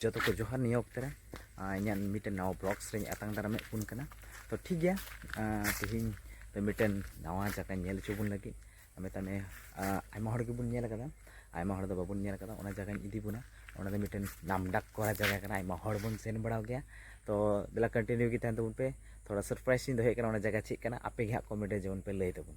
ᱡᱚᱛᱚ ᱠᱚ ᱡᱚᱦᱟᱨ ᱱᱤᱭᱟᱹ ᱚᱠᱛᱮ ᱨᱮ ᱤᱧᱟᱹᱜ ᱢᱤᱫᱴᱮᱱ ᱱᱟᱣᱟ ᱵᱞᱚᱜᱥ ᱨᱮᱧ ᱟᱛᱟᱝ ᱫᱟᱨᱟᱢᱮᱫ ᱵᱚᱱ ᱠᱟᱱᱟ ᱛᱚ ᱴᱷᱤᱠ ᱜᱮᱭᱟ ᱛᱮᱦᱮᱧ ᱫᱚ ᱢᱤᱫᱴᱮᱱ ᱱᱟᱣᱟ ᱡᱟᱭᱜᱟ ᱧᱮᱞ ᱦᱚᱪᱚ ᱵᱚᱱ ᱞᱟᱹᱜᱤᱫ ᱢᱮᱛᱟᱜ ᱢᱮ ᱟᱭᱢᱟ ᱦᱚᱲ ᱜᱮᱵᱚᱱ ᱧᱮᱞ ᱟᱠᱟᱫᱟ ᱟᱭᱢᱟ ᱦᱚᱲ ᱫᱚ ᱵᱟᱵᱚᱱ ᱧᱮᱞ ᱟᱠᱟᱫᱟ ᱚᱱᱟ ᱡᱟᱭᱜᱟᱧ ᱤᱫᱤ ᱵᱚᱱᱟ ᱚᱱᱟ ᱫᱚ ᱢᱤᱫᱴᱮᱱ ᱱᱟᱢᱰᱟᱠ ᱠᱚᱨᱟ ᱡᱟᱭᱜᱟ ᱠᱟᱱᱟ ᱟᱭᱢᱟ ᱦᱚᱲ ᱵᱚᱱ ᱥᱮᱱ ᱵᱟᱲᱟᱣ ᱜᱮᱭᱟ ᱛᱚ ᱫᱮᱞᱟ ᱠᱚᱱᱴᱤᱱᱤᱭᱩ ᱜᱮ ᱛᱟᱦᱮᱱ ᱛᱟᱵᱚᱱ ᱯᱮ ᱛᱷᱚᱲᱟ ᱥᱟᱨᱯᱨᱟᱭᱤᱡᱽ ᱤᱧ ᱫᱚᱦᱚᱭᱮᱫ ᱠᱟᱱᱟ ᱚᱱᱟ ᱡᱟᱭᱜᱟ ᱪᱮᱫ ᱠᱟᱱᱟ ᱟᱯᱮ ᱜᱮ ᱦᱟᱸᱜ ᱠᱚᱢᱮᱱᱴ ᱨᱮ ᱡᱮᱢᱚᱱ ᱯᱮ ᱞᱟᱹᱭ ᱛᱟᱵᱚᱱ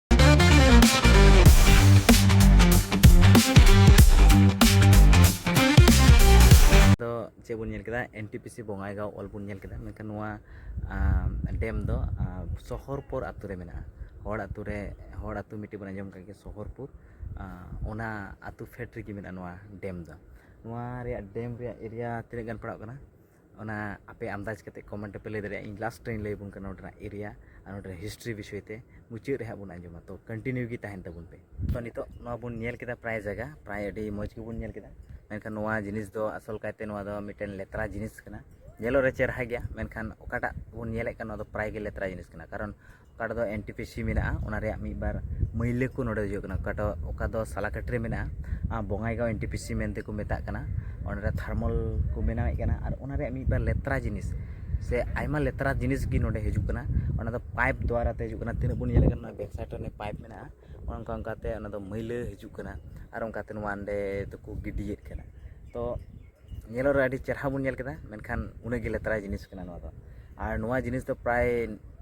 ᱪᱮᱫ ᱵᱚᱱ ᱧᱮᱞ ᱠᱮᱫᱟ N T P C Bongaigaon ᱚᱞ ᱵᱚᱱ ᱧᱮᱞ ᱠᱮᱫᱟ ᱢᱮᱱᱠᱷᱟᱱ ᱱᱚᱣᱟ ᱰᱮᱢ ᱫᱚ ᱥᱚᱦᱚᱨᱯᱩᱨ ᱟᱛᱳ ᱨᱮ ᱢᱮᱱᱟᱜᱼᱟ ᱦᱚᱲ ᱟᱛᱳ ᱨᱮ ᱦᱚᱲ ᱟᱛᱳ ᱢᱤᱫᱴᱤᱡ ᱵᱚᱱ ᱟᱸᱡᱚᱢ ᱠᱟᱜ ᱜᱮᱭᱟ ᱥᱚᱦᱚᱨᱯᱩᱨ ᱚᱱᱟ ᱟᱛᱳ ᱯᱷᱮᱰ ᱨᱮᱜᱮ ᱢᱮᱱᱟᱜᱼᱟ ᱱᱚᱣᱟ ᱰᱮᱢ ᱫᱚ ᱱᱚᱣᱟ ᱨᱮᱭᱟᱜ ᱰᱮᱢ ᱨᱮᱭᱟᱜ ᱮᱨᱤᱭᱟ ᱛᱤᱱᱟᱹᱜ ᱜᱟᱱ ᱯᱟᱲᱟᱜ ᱠᱟᱱᱟ ᱚᱱᱟ ᱟᱯᱮ ᱟᱱᱫᱟᱡᱽ ᱠᱟᱛᱮ ᱠᱚᱢᱮᱱᱴ ᱨᱮᱯᱮ ᱞᱟᱹᱭ ᱫᱟᱲᱮᱭᱟᱜᱼᱟ ᱤᱧ ᱞᱟᱥᱴ ᱨᱮᱧ ᱞᱟᱹᱭ ᱟᱵᱚᱱ ᱠᱟᱱᱟ ᱱᱚᱰᱮᱱᱟᱜ ᱮᱨᱤᱭᱟ ᱟᱨ ᱱᱚᱰᱮᱱᱟᱜ ᱦᱤᱥᱴᱨᱤ ᱵᱤᱥᱚᱭ ᱛᱮ ᱢᱩᱪᱟᱹᱫ ᱨᱮ ᱦᱟᱸᱜ ᱵᱚᱱ ᱟᱸᱡᱚᱢᱟ ᱛᱚ ᱠᱚᱱᱴᱤᱱᱤᱭᱩ ᱜᱮ ᱛᱟᱦᱮᱱ ᱛᱟᱵᱚᱱ ᱯᱮ ᱛᱚ ᱱᱤᱛᱚᱜ ᱱᱚᱣᱟ ᱵᱚᱱ ᱧᱮᱞ ᱠᱮᱫᱟ ᱯᱨᱟᱭ ᱡᱟᱭᱜᱟ ᱯᱨᱟᱭ ᱟᱹᱰᱤ ᱢᱚᱡᱽ ᱜᱮᱵᱚᱱ ᱧᱮᱞ ᱠᱮᱫᱟ ᱢᱮᱱᱠᱷᱟᱱ ᱱᱚᱣᱟ ᱡᱤᱱᱤᱥ ᱫᱚ ᱟᱥᱚᱞ ᱠᱟᱭᱛᱮ ᱱᱚᱣᱟ ᱫᱚ ᱢᱤᱫᱴᱮᱱ ᱞᱮᱛᱨᱟ ᱡᱤᱱᱤᱥ ᱠᱟᱱᱟ ᱧᱮᱞᱚᱜ ᱨᱮ ᱪᱮᱦᱨᱟ ᱜᱮᱭᱟ ᱢᱮᱱᱠᱷᱟᱱ ᱚᱠᱟᱴᱟᱜ ᱵᱚᱱ ᱧᱮᱞᱮᱫ ᱠᱟᱱ ᱱᱚᱣᱟ ᱫᱚ ᱯᱨᱟᱭ ᱜᱮ ᱞᱮᱛᱨᱟ ᱡᱤᱱᱤᱥ ᱠᱟᱱᱟ ᱠᱟᱨᱚᱱ ᱚᱠᱟ ᱨᱮᱫᱚ ᱮᱱ ᱴᱤ ᱯᱤ ᱥᱤ ᱢᱮᱱᱟᱜᱼᱟ ᱚᱱᱟ ᱨᱮᱭᱟᱜ ᱢᱤᱫ ᱵᱟᱨ ᱢᱟᱹᱭᱞᱟᱹ ᱠᱚ ᱱᱚᱰᱮ ᱦᱩᱭᱩᱜ ᱠᱟᱱᱟ ᱚᱠᱟᱴᱟᱜ ᱚᱠᱟ ᱫᱚ ᱥᱟᱞᱟᱠᱟᱴᱤ ᱨᱮ ᱢᱮᱱᱟᱜᱼᱟ ᱟᱨ Bongaigaon N T P C ᱢᱮᱱᱛᱮ ᱠᱚ ᱢᱮᱛᱟᱜ ᱠᱟᱱᱟ ᱚᱸᱰᱮ ᱫᱚ ᱛᱷᱟᱨᱢᱟᱞ ᱠᱚ ᱵᱮᱱᱟᱣᱮᱫ ᱠᱟᱱᱟ ᱟᱨ ᱚᱱᱟ ᱨᱮᱭᱟᱜ ᱢᱤᱫ ᱵᱟᱨ ᱞᱮᱛᱨᱟ ᱡᱤᱱᱤᱥ ᱥᱮ ᱟᱭᱢᱟ ᱞᱮᱛᱨᱟ ᱡᱤᱱᱤᱥ ᱜᱮ ᱱᱚᱰᱮ ᱦᱤᱡᱩᱜ ᱠᱟᱱᱟ ᱚᱱᱟ ᱫᱚ ᱯᱟᱭᱤᱯ ᱫᱚᱣᱟᱨᱟ ᱛᱮ ᱦᱤᱡᱩᱜ ᱠᱟᱱᱟ ᱛᱤᱱᱟᱹᱜ ᱵᱚᱱ ᱧᱮᱞᱮᱫ ᱠᱟᱱᱟ ᱵᱮᱠ ᱥᱟᱭᱤᱰ ᱨᱮ ᱯᱟᱭᱤᱯ ᱢᱮᱱᱟᱜᱼᱟ ᱚᱱᱠᱟ ᱚᱱᱠᱟ ᱛᱮ ᱚᱱᱟ ᱫᱚ ᱢᱟᱹᱭᱞᱟᱹ ᱦᱤᱡᱩᱜ ᱠᱟᱱᱟ ᱟᱨ ᱚᱱᱠᱟᱛᱮ ᱱᱚᱣᱟ ᱚᱸᱰᱮ ᱫᱚᱠᱚ ᱜᱤᱰᱤᱭᱮᱫ ᱠᱟᱱᱟ ᱛᱚ ᱧᱮᱞᱚᱜ ᱨᱮ ᱟᱹᱰᱤ ᱪᱮᱨᱦᱟ ᱵᱚᱱ ᱧᱮᱞ ᱠᱮᱫᱟ ᱢᱮᱱᱠᱷᱟᱱ ᱩᱱᱟᱹᱜ ᱜᱮ ᱞᱮᱛᱟᱲᱟ ᱡᱤᱱᱤᱥ ᱠᱟᱱᱟ ᱱᱚᱣᱟ ᱫᱚ ᱟᱨ ᱱᱚᱣᱟ ᱡᱤᱱᱤᱥ ᱫᱚ ᱯᱨᱟᱭ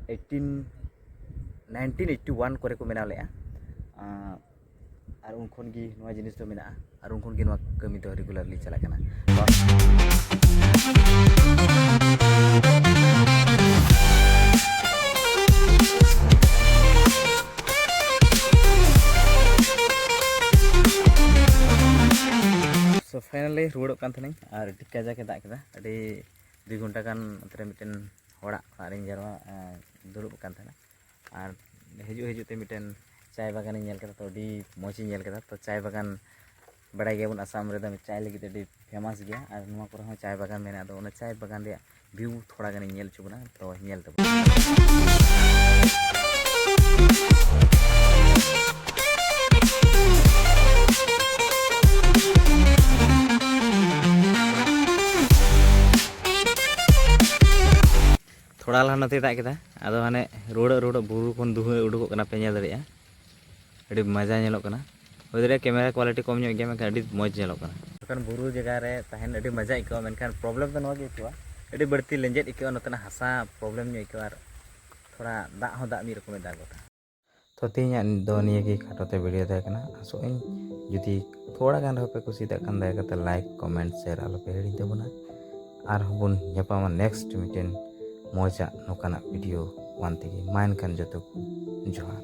ᱮᱭᱤᱴᱤᱱ ᱱᱟᱭᱤᱱᱴᱤᱱ ᱮᱭᱤᱴᱤ ᱳᱣᱟᱱ ᱠᱚᱨᱮ ᱠᱚ ᱵᱮᱱᱟᱣ ᱞᱮᱫᱼᱟ ᱟᱨ ᱩᱱ ᱠᱷᱚᱱ ᱜᱮ ᱱᱚᱣᱟ ᱡᱤᱱᱤᱥ ᱫᱚ ᱢᱮᱱᱟᱜᱼᱟ ᱟᱨ ᱩᱱ ᱠᱷᱚᱱ ᱜᱮ ᱱᱚᱣᱟ ᱠᱟᱹᱢᱤ ᱫᱚ ᱨᱮᱜᱩᱞᱟᱨᱞᱤ ᱪᱟᱞᱟᱜ ᱠᱟᱱᱟ ᱯᱷᱟᱭᱱᱟᱞᱤ ᱨᱩᱣᱟᱹᱲᱚᱜ ᱠᱟᱱ ᱛᱟᱦᱮᱱᱟᱹᱧ ᱟᱨ ᱟᱹᱰᱤ ᱠᱟᱡᱟᱠᱮ ᱫᱟᱜ ᱠᱮᱫᱟ ᱟᱹᱰᱤ ᱫᱩᱭ ᱜᱷᱚᱱᱴᱟ ᱜᱟᱱ ᱚᱱᱛᱮ ᱨᱮ ᱢᱤᱫᱴᱮᱱ ᱦᱚᱲᱟᱜ ᱚᱲᱟᱜ ᱨᱤᱧ ᱡᱟᱨᱣᱟ ᱫᱩᱲᱩᱵ ᱟᱠᱟᱱ ᱛᱟᱦᱮᱱᱟ ᱟᱨ ᱦᱤᱡᱩᱜ ᱦᱤᱡᱩᱜ ᱛᱮ ᱢᱤᱫᱴᱮᱱ ᱪᱟᱭ ᱵᱟᱜᱟᱱᱤᱧ ᱧᱮᱞ ᱠᱮᱫᱟ ᱛᱚ ᱟᱹᱰᱤ ᱢᱚᱡᱽ ᱤᱧ ᱧᱮᱞ ᱠᱮᱫᱟ ᱛᱚ ᱪᱟᱭ ᱵᱟᱜᱟᱱ ᱵᱟᱲᱟᱭ ᱜᱮᱭᱟᱵᱚᱱ ᱟᱥᱟᱢ ᱨᱮᱫᱚ ᱪᱟᱭ ᱞᱟᱹᱜᱤᱫ ᱛᱮ ᱟᱹᱰᱤ ᱯᱷᱮᱢᱟᱥ ᱜᱮᱭᱟ ᱟᱨ ᱱᱚᱣᱟ ᱠᱚᱨᱮ ᱦᱚᱸ ᱪᱟᱭ ᱵᱟᱜᱟᱱ ᱢᱮᱱᱟᱜᱼᱟ ᱟᱫᱚ ᱚᱱᱟ ᱪᱟᱭ ᱵᱟᱜᱟᱱ ᱨᱮᱭᱟᱜ ᱵᱷᱤᱭᱩ ᱛᱷᱚᱲᱟ ᱜᱟᱱᱤᱧ ᱧᱮᱞ ᱦᱚᱪᱚ ᱵᱚᱱᱟ ᱛᱚ ᱧᱮᱞ ᱛᱟᱵᱚᱱ ᱛᱷᱚᱲᱟ ᱞᱟᱦᱟ ᱱᱚᱛᱮ ᱫᱟᱜ ᱠᱮᱫᱟ ᱟᱫᱚ ᱦᱟᱱᱮ ᱨᱩᱣᱟᱹᱲᱚᱜ ᱨᱩᱣᱟᱹᱲᱚᱜ ᱵᱩᱨᱩ ᱠᱷᱚᱱ ᱫᱩᱦᱟᱹ ᱩᱰᱩᱠᱚᱜ ᱠᱟᱱᱟ ᱯᱮ ᱧᱮᱞ ᱫᱟᱲᱮᱭᱟᱜᱼᱟ ᱟᱹᱰᱤ ᱢᱚᱡᱟ ᱧᱮᱞᱚᱜ ᱠᱟᱱᱟ ᱦᱩᱭ ᱫᱟᱲᱮᱭᱟᱜᱼᱟ ᱠᱮᱢᱮᱨᱟ ᱠᱳᱣᱟᱞᱤᱴᱤ ᱠᱚᱢ ᱧᱚᱜ ᱜᱮᱭᱟ ᱢᱮᱱᱠᱷᱟᱱ ᱟᱹᱰᱤ ᱢᱚᱡᱽ ᱧᱮᱞᱚᱜ ᱠᱟᱱᱟ ᱡᱚᱠᱷᱚᱱ ᱵᱩᱨᱩ ᱡᱟᱭᱜᱟ ᱨᱮ ᱛᱟᱦᱮᱱ ᱟᱹᱰᱤ ᱢᱚᱡᱟ ᱟᱹᱭᱠᱟᱹᱜᱼᱟ ᱢᱮᱱᱠᱷᱟᱱ ᱯᱨᱚᱵᱞᱮᱢ ᱫᱚ ᱱᱚᱣᱟ ᱜᱮ ᱟᱹᱭᱠᱟᱹᱜᱼᱟ ᱟᱹᱰᱤ ᱵᱟᱹᱲᱛᱤ ᱞᱮᱸᱡᱮᱫ ᱟᱹᱭᱠᱟᱹᱜᱼᱟ ᱱᱚᱛᱮᱱᱟᱜ ᱦᱟᱥᱟ ᱯᱨᱚᱵᱞᱮᱢ ᱧᱚᱜ ᱟᱹᱭᱠᱟᱹᱜᱼᱟ ᱟᱨ ᱛᱷᱚᱲᱟ ᱫᱟᱜ ᱦᱚᱸ ᱫᱟᱜ ᱢᱤᱫ ᱨᱚᱠᱚᱢᱮ ᱫᱟᱜ ᱜᱚᱫᱟ ᱛᱚ ᱛᱮᱦᱮᱧᱟᱜ ᱫᱚ ᱱᱤᱭᱟᱹ ᱜᱮ ᱠᱷᱟᱴᱚ ᱛᱮ ᱵᱷᱤᱰᱤᱭᱳ ᱛᱟᱦᱮᱸ ᱠᱟᱱᱟ ᱟᱥᱚᱜ ᱟᱹᱧ ᱡᱩᱫᱤ ᱛᱷᱚᱲᱟ ᱜᱟᱱ ᱨᱮᱦᱚᱸ ᱯᱮ ᱠᱩᱥᱤᱭᱟᱜ ᱠᱷᱟᱱ ᱫᱟᱭᱟ ᱠᱟᱛᱮ ᱞᱟᱭᱤᱠ ᱠᱚᱢᱮᱱᱴ ᱥᱮᱭᱟᱨ ᱟᱞᱚᱯᱮ ᱦᱤᱲᱤᱧ ᱛᱟᱵᱚᱱᱟ ᱟᱨᱦᱚᱸ ᱵᱚᱱ ᱧᱟᱯᱟᱢᱟ ᱱᱮᱠᱥᱴ ᱢᱤᱫᱴᱮᱱ ᱢᱚᱡᱟᱜ ᱱᱚᱝᱠᱟᱱᱟᱜ ᱵᱷᱤᱰᱤᱭᱳ ᱚᱱ ᱛᱮᱜᱮ ᱢᱟ ᱮᱱᱠᱷᱟᱱ ᱡᱚᱛᱚ ᱠᱚ ᱡᱚᱦᱟᱨ